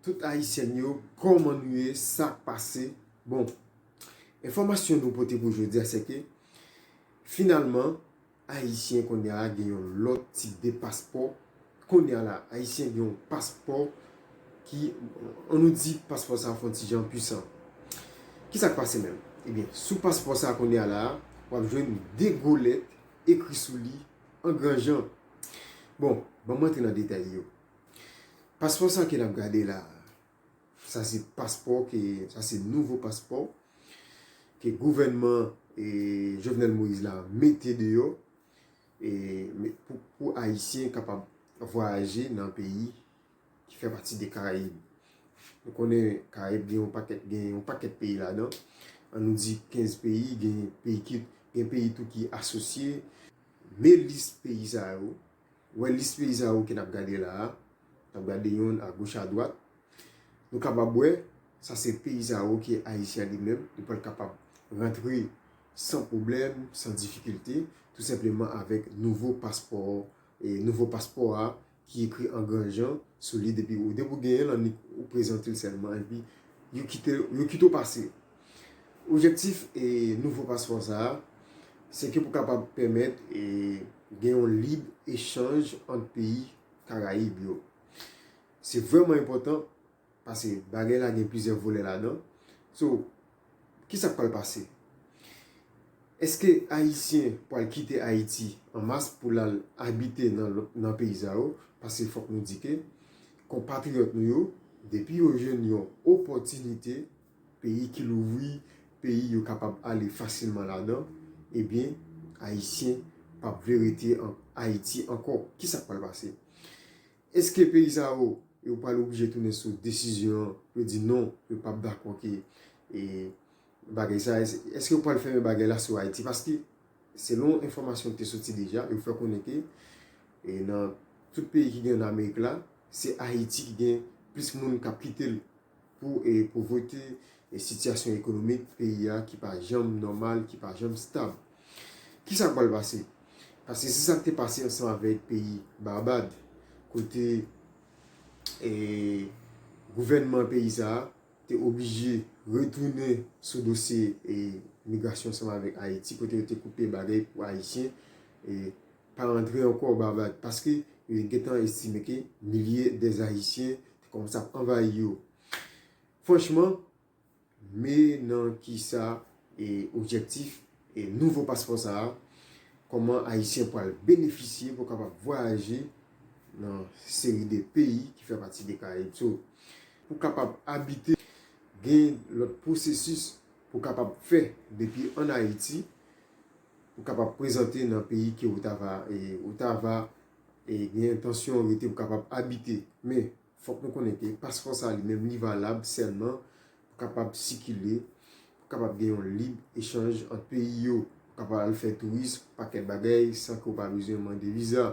Tout ayisyèn yo kòman nou ye sak pase bon enfòmasyon nou pote pou jodia sèke finalman ayisyen kounye a gen yon lòt tip de paspò kounye a la ayisyen gen yon paspò ki an nou di paspò sa fon ti jan pwisan kisak pase menm ebyen sou paspò sa kounye a la wap jwenn 2 gwo lèt ekri sou li an gran jan bon banm antre nan detay yo. Paspò sa ke nap gade la, sa se paspò ke, sa se nouvo paspò ke gouvènman Jovenel Moïse la mete deyò pou Ayisyen kapab vwayaje nan peyi ki fè pati de Karayib. Nou konnen Karayib gen yon pakèt peyi ladan, an nou di 15 peyi, gen peyi tou ki asosye, men lis peyi sa yo, wè lis peyi sa yo ke nap gade la a, nap gade yo a goch a dwat, nou kapab wè sa se peyi sa yo ke Ayisyen li menm li pral kapab rantre san pwoblèm, san difikilte, tou senpleman avèk nouvo paspò, nouvo paspò a ki ekri an gran jan sou li depi ou gen l annik ou prezante l sèlman epi yo kite w pase. Objektif nouvo paspò sa a, se ke pou kapab pèmèt gen yon lib echanj ant peyi Karayib yo. Se vrèman enpòtan, pase bagay la gen plizyè volè ladan. So, ki sa k pral pase? Eske Ayisyen pral kite Ayiti an mas pou l al abite nan peyi sa yo? Pase fòk nou di ke konpatriyòt nou yo, depi yo jwenn yon opòtinite peyi ki louvri, peyi yo kapab ale fasilman ladan, ebyen Ayisyen p ap vle rete an Ayiti ankò. Ki sa k pral pase? Èske peyi sa yo, yo pral oblije tounen sou desizyon an pou yo di non, yo p ap dakò ke bagay sa? Èske yo pral fèmen bagay la sou Ayiti? Paske, selon enfòmasyon ki te soti deja, yo fè konnen ke nan tout peyi ki gen ann Amerik la, se Ayiti ki gen plis moun k ap kite l Pou povrete, sitiyasyon ekonomik peyi a ki pa janm nòmal, ki pa janm stab. Ki sa k pral pase? Paske se sa k te pase ansanm avèk peyi Barbad, kote gouvènman peyi sa a te oblije retounen sou dosye migrasyon ansanm avèk Ayiti, kote yo te koupe bagay pou Ayisyen pa rantre ankò Barbad. Paske yo gen tan estime ke milye dè Ayisyen Te kòmanse ap anvayi yo. Franchman, me nan ki sa e objektif e nouvo paspò sa a, kòman Ayisyen pral benefisye pou kapab vwayaje nan seri de peyi ki fè pati de Karayib. So, pou kapab abite, gen lòt pwosesis pou kapab fè depi an Ayiti pou kapab prezante nan peyi ke ou ta va e ou ta va. e gen entansyon rete pou kapab abite. Men, fòk nou konnen ke paspò sa li menm li valab sèlman pou kapab sikile, pou kapab gen yon lib echanj ant peyi yo, pou kapab al fè tourism, pakèt bagay san ke ou pa bezwen mande viza.